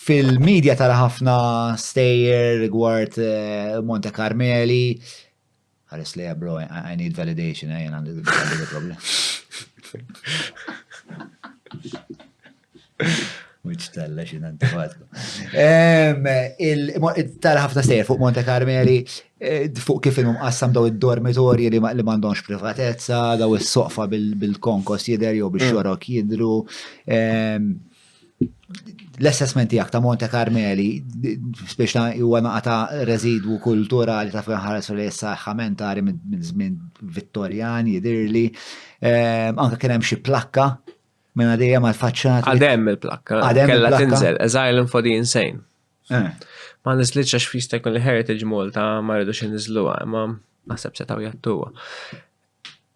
Fil-media tara ħafna stejjer rigward eh, Monte Carmeli. Ħares li bro, I need validation, eh, għandi għandi problem. Mux talla xin antifatku. Tara ħafna stejjer fuq Monte Carmeli, eh, fuq kif il qassam daw id-dormitorji li ma- li mandonx privatezza, daw is-soqfa bil- bil-konkos jider jew biex xorok jidru. Em, l-assessment tiegħek ta' Monte Carmeli, spiex ta' huwa naqa ta' residwu kulturali ta' fejn ħares li issa ħamentari minn żmien Vittorjan jidirli. Ehm, anke kien hemm xi plakka minn għadija mal faċċat Għadem il-plakka, kella tinżel, as island for the insane. Eh. Ma nizlitx għax fista jkun li Heritage Malta ma rridux inizluha, imma naħseb setaw jattuha.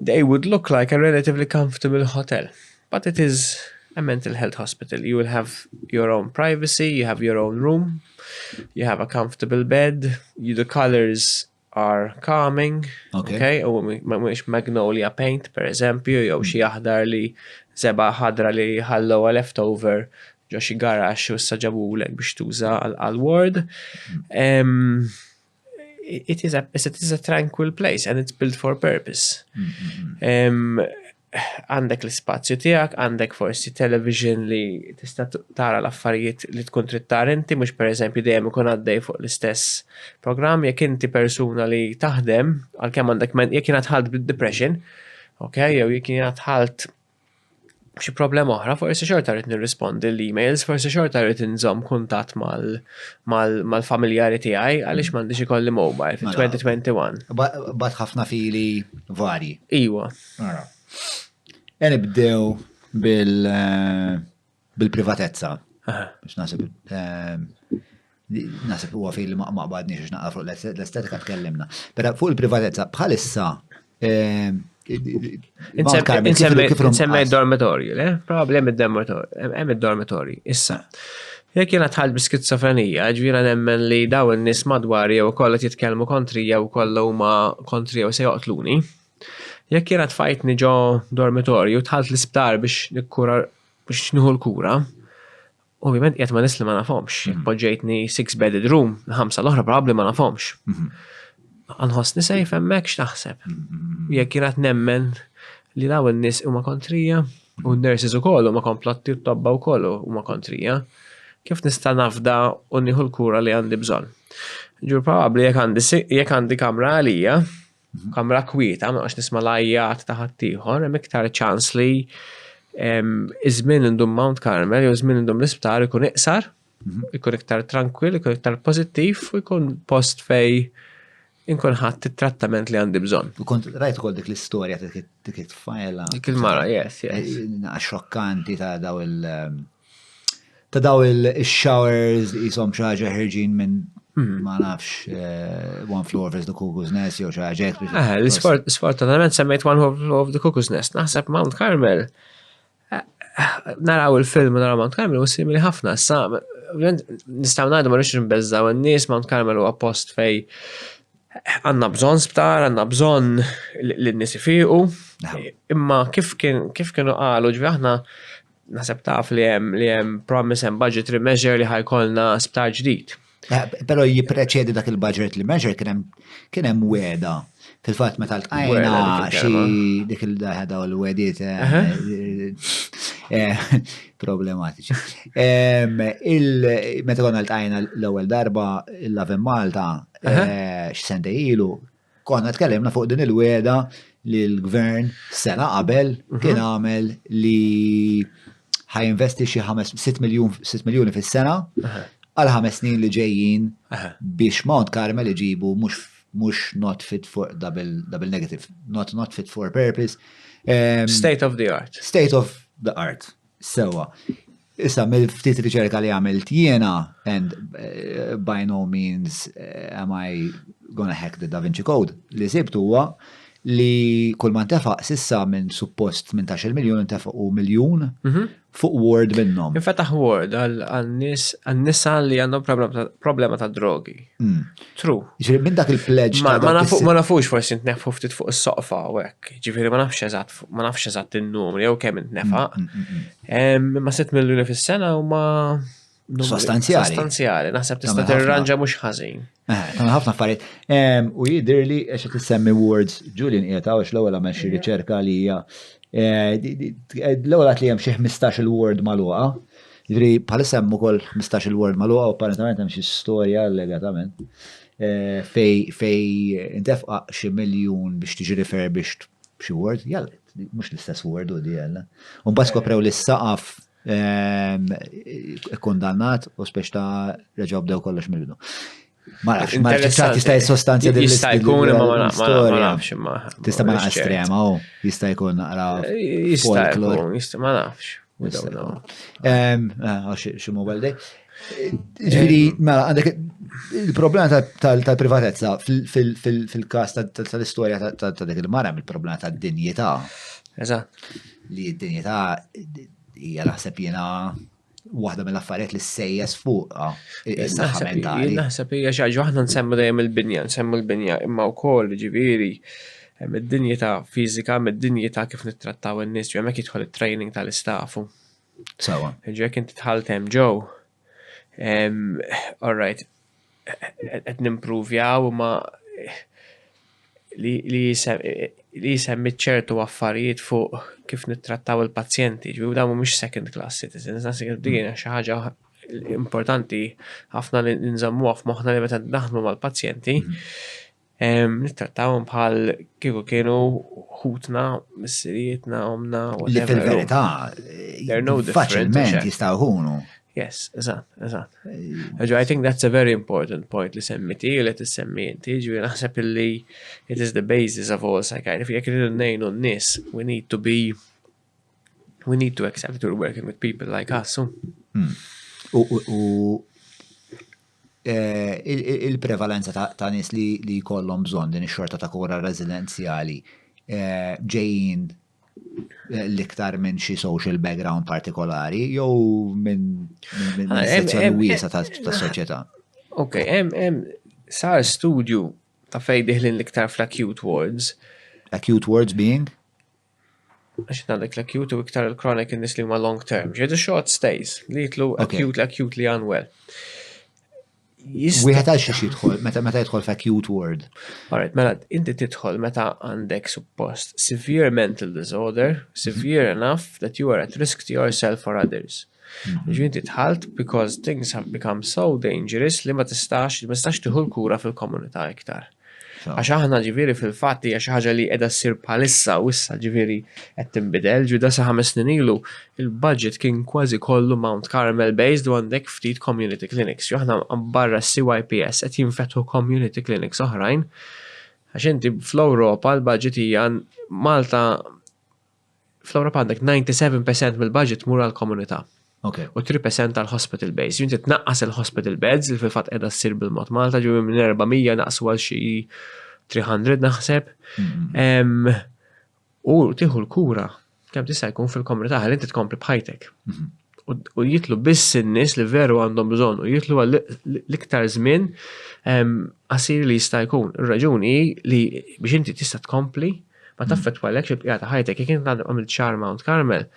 They would look like a relatively comfortable hotel, but it is a mental health hospital. You will have your own privacy, you have your own room, you have a comfortable bed, the colours are calming, Ok. ok, u ma mhuwiex magnolia paint per eżempju, jew xi aħdar li żebgħa ħadra li ħallewha left over ġo xi garaxx u issa ġabulek biex tuża għal ward. Ehm, it is a, it is a tranquil place and it's built for purpose. Għandek l-spazju tijak, għandek forsi television li tista tara l-affarijiet li tkun trid tara inti, mux per eżempju dejjem ikun għaddej fuq l-istess program, jekk inti persuna li taħdem, għal-kem għandek men, jekk jina tħalt depression ok, jew jekk jina tħalt xi problema oħra, forsi xorta rrit nirrispondi l-emails, forsi xorta rrit nżom kuntat mal-familjari tiegħi għaliex mm. m'għandix ikolli mobile fil-2021. Mela. Bat ħafna fili varji. Iwa. Mela. E nibdew bil- eh, Bil-privatezza. Biex nasib. Ehm, nasib huwa fil li ma badni xiex naqra fuq l-estetika tkellimna. Pero fuq il-privatezza bħalissa. Ehm, Insemmi dormitorju, le? Probabli hemm id-dormitorju, hemm id-dormitorju. Issa, jekk jiena tħall bi skizofrenija, ġvira nemmen li daw in-nies madwar jew kollha jitkellmu kontri jew kollha huma kontri jew se joqtluni. Jekk jiena tfajtni ġo dormitorju, tħalt l-isptar biex nikkura biex nieħu l-kura, ovvjament qiegħed ma' nies li ma nafhomx. Jekk mhm. poġġejtni six bedded room, ħamsa l-oħra probabbli ma nafhomx. Mhm. Għanħossni sejf hemmhekk x'taħseb. Mhm. Jekk jirat nemmen li daw in-nies huma kontrija u n-nurses ukoll huma komplotti t-tobba wkoll huma kontrija. Kif nista' nafda u nieħu l-kura li għandi bżonn? Ġur probabbli jekk għandi kamra għalija, F'kamra kwieta, ma nqax nisma' l-għajjat ta' ħaddieħor, hemm iktar ċans li ż-żmien indum Mount Carmel jew żmien indum l-isptar ikun iqsar, ikun iktar trankwill, ikun iktar pożittiv u jkun post fejn inkun ħadt it-trattament li għandi bżonn. U kont rajt ukoll dik l-istorja dik it-tfajla. Dik il-mara, yes, yes. Xokkanti ta' daw il- ta' daw il-showers li jisom xaġa ħerġin minn hmm. ma nafx eh, One Floor of the Cuckoo's Nest jew xi ħaġa. Eh, l-isfortunatament semmejt One Floor of the Cuckoo's Nest, naħseb Mount Carmel. Eh, naraw il-film naraw Mount Carmel u simili ħafna, sa nistaw ngħidu ma rridx nbeżżaw in-nies Mount Carmel huwa post fej għanna bżon sptar, għanna bżon l-nisifiqu, imma kif kienu għalu ġvi aħna Naseb taf li hemm li hemm promise hemm budgetary measure li ħajkolna sptar ġdid. Eh, Pero jipreċedi dak il-budget li measure kien hemm kien hemm weda. Fil-fatt meta l-qajna xi dik il-daħda u l-wedit eh, eh, problematiċi. Meta konna l-qajna l-ewwel darba l-Lavin Malta x'sente ilu Konna tkellimna fuq din il-weda li l-gvern sena qabel mhm. kien għamel li ħajinvesti xi 6 miljuni fis-sena għal ħames snin li ġejjin biex Mount Carmel iġibu mhux mhux not fit for double, double negative, not not fit for purpose. Um, state of the art. State of the art. Sewa. Issa, mill-ftit riċerka li għamilt jiena, and eh, by no means eh, am I gonna hack the Da Vinci Code, li sibt huwa li kull ma ntefaq sissa minn suppost 18 miljon ntefaq u miljon mhm. fuq Word minnhom. Infetaħ Word għal-nisa li għandhom problema ta' drogi. Mm. True. Ġifieri minn dak il-pledge. Ma nafux forsi ntnefu ftit fuq is-soqfa u hekk. Ġifieri ma nafx eżatt, ma nafx eżatt in-numri jew kemm intnefaq. Mm, mm, Imma sitt miljuni fis-sena huma sostanzjali. Sostanzjali, naħseb tista' tirranġa mhux ħażin. Eh, ta' ħafna affarijiet. U jidher li għax qed issemmi words Julian qiegħed għax l-ewwel għamel xi riċerka li hija eh, l-ewwel li hemm xi 15 il-word magħluqa. Ġifieri bħalissa hemm ukoll 15 il-word magħluqa u apparentament hemm xi storja allegatament eh, fej fej intefqa xi miljun biex tiġi refurbished xi word, jalla, mhux l-istess word u DL. U mbagħad skoprew li s-saqaf ehm, kondannat u speċ ta' reġgħu bdew kollox mill-bidu. Ma nafx, ma nafx, tista' jissostanzja din Jista' jkun imma ma nafx, ma nafx imma. Tista' ma naqas trema, u jista' jkun naqra. Jista' jkun, ma nafx. Xi mobile day. Ġifieri, mela, għandek il-problema tal-privatezza fil-każ tal-istorja ta' dik il-mara il-problema tad-dinjità. Eżatt. Li d-dinjità hija naħseb jiena waħda mill-affarijiet li ssejjes fuq is-saħħa mentali. Naħseb hija xi ħaġa waħda nsemmu dejjem il-binja, nsemmu l-binja, imma wkoll ġifieri Hemm id-dinjità fiżika, hemm id-dinjità kif nittrattaw in-nies, ġew hemmhekk jidħol it-training tal-istafu. Sawa. Ġek inti tħalt hemm ġew. All right. Qed nimpruvjaw imma li jisemmi ċertu affarijiet fuq kif nittrattaw il-pazjenti, ġbiju damu mux second class citizens, nasi għaddina xaħġa importanti ħafna li nżammu għaf moħna li meta naħdmu mal-pazjenti, mhm. Nittrattawhom bħal kieku kienu ħutna, missirietna, omna, u li fil-verità faċilment jistaw ħunu. Yes, eżat, eżat. Ġo, I think that's a very important point li semmiti u li t-semmi inti, ġu naħseb li it is the basis of all psychiatry. Jek rridu nejnu n-nis, we need to be We need to accept that we're working with people like us. Hmm. U eh, il-prevalenza ta' nis li kollom bżon din ix-xorta ta' kura residenzjali eh, ġejjin eh, l-iktar minn xi social background partikolari jew minn ah, sezzjoni wiesa ta' soċjetà. Ok, hemm sar studju ta' fejn diħlin l-iktar fl-acute wards. Acute wards being? Għax għandek l-acute u iktar il-chronic in-nies li huma long term. Ġedu short stays li jitlu acute, acute li unwell. Wieħed għal xiex jidħol, meta meta jidħol f'acute ward. Alright, mela inti tidħol meta għandek suppost severe mental disorder, severe mhm. enough that you are at risk to yourself or others. Mhm. Ġi inti tħalt because things have become so dangerous li ma tistax, ma tistax tiħu l-kura fil-komunità iktar. Għax aħna ġifieri fil-fatt hija xi ħaġa li qiegħda ssir bħalissa u issa ġifieri qed tinbidel, ġifieri da sa ħames snin ilu il-budget kien kważi kollu Mount Carmel based u għandek ftit community clinics. Jo aħna barra CYPS qed jinfetħu community clinics oħrajn għax inti fl-Ewropa l-budget hija Malta fl-Ewropa għandek 97% mill-budget mur għall-komunità. Okay. U 3% tal-hospital base. Jinti tnaqqas il-hospital beds li fil-fat edha s-sir bil-mod Malta ġu minn 400 naqsu għal xi 300 naħseb. Mm-hmm. U tiħu l-kura kemm tista' jkun fil-komunità ħalli inti tkompli bħajtek. Mm-hmm. U jitlu biss in-nies li veru għandhom bżonn u jitlu għal l-iktar żmien għasir li jista' jkun. Ir-raġuni li biex inti tista' tkompli Ma taffettwalekx il-bqija ta' ħajtek. Jekk int għadek għamilt xahar Mount Carmel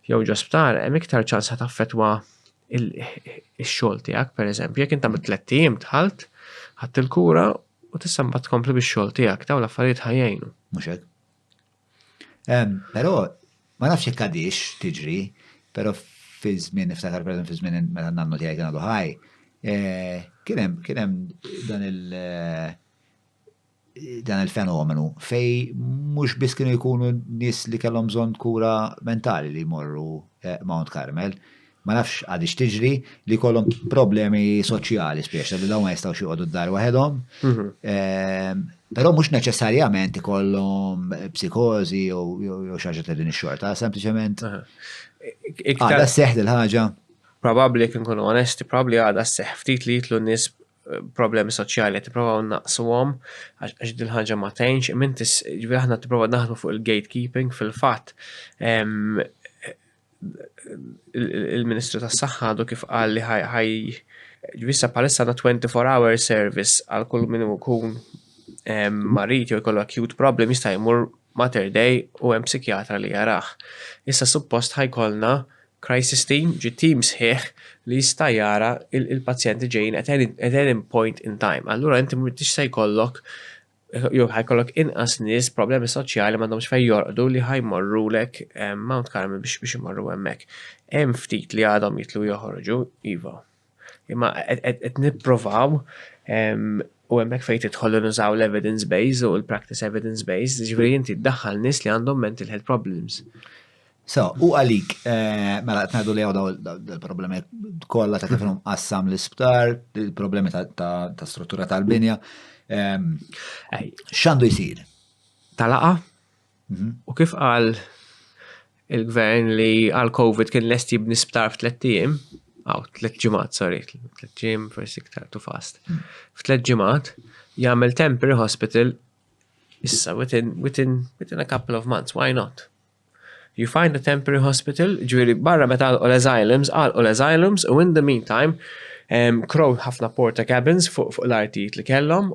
jew ġo sptar, hemm iktar ċans ħa taffettwa x-xogħol tiegħek, pereżempju. Jekk int għamilt tlett ijiem dħalt, ħadd il-kura u tista' mbagħad tkompli bix-xogħol tiegħek, dawn l-affarijiet ħajjejnu. Mhux hekk. Però ma nafx jekk għadix tiġri, però fi żmien niftakar pereżempju fi żmien meta nannu tiegħi kien għadu ħaj, eh, kien hemm dan il- eh, dan il-fenomenu fejn mhux biss kienu jkunu nies li kellhom bżonn kura mentali li jmorru Mount Carmel, ma nafx għadix tiġri li kollhom problemi soċjali speċa li dawn ma jistgħux joqogħdu d-dar waħedhom. Mhm. Ehm, però mhux neċessarjament ikollhom psikożi jew xi ħaġa ta' din ix-xorta, sempliċement għadha seħħ il-ħaġa. Probabbli kien kunu onesti, probabbli għadha seħħ ftit li jitlu nies problemi soċjali qed nipprovaw naqsuhom għax din ħaġa ma tgħinx, imint ġifieri aħna tipprova naħdmu fuq il-gatekeeping fil-fatt il-Ministru tas-Saħħa għadu kif qal li ħaj ġvissa palissa għandna 24 hour service għal kull min ikun marit jew jkollu acute problem jista' jmur Mater Dei u hemm psikjatra li jarah. Issa suppost ħa jkollna crisis team, ġi team sħiħ li jista' jara il-pazjenti li ġejjin at any, at any point in time. Allura inti m'intix se jkollok jew ħa jkollok inqas nies b'problemi soċjali m'għandhomx fejn jorqdu li ħa jmorrulek Mount Carmel biex imorru hemmhekk. Hemm ftit li għadhom jitlu joħorġu, iva. Imma qed nipprovaw u hemmhekk fejn tidħol u nużaw l-evidence base u l-practice evidence base, ġifieri inti ddaħħal nies li għandhom mental health problems. So, u għalik, eh, mela qed ngħidu li hawn il-problemi kollha ta' kif qassam l-isptar, il-problemi ta' struttura tal-binja. Ehm, x'għandu jsir? Talaqa? Mhm. U kif qal il-gvern li għal Covid kien lest jibni sptar f'tlet ijiem, għaw, tlet ġimat, sorry, tlet ġim, forsi iktar tu fast. Mm. F'tlet ġimat, jagħmel temporary hospital issa within, within, within a couple of months, why not? You find a temporary hospital, ġviri barra meta għal asylums, għal asylums, u in the meantime, um, crow ħafna porta cabins fuq fu l-artijiet li kellhom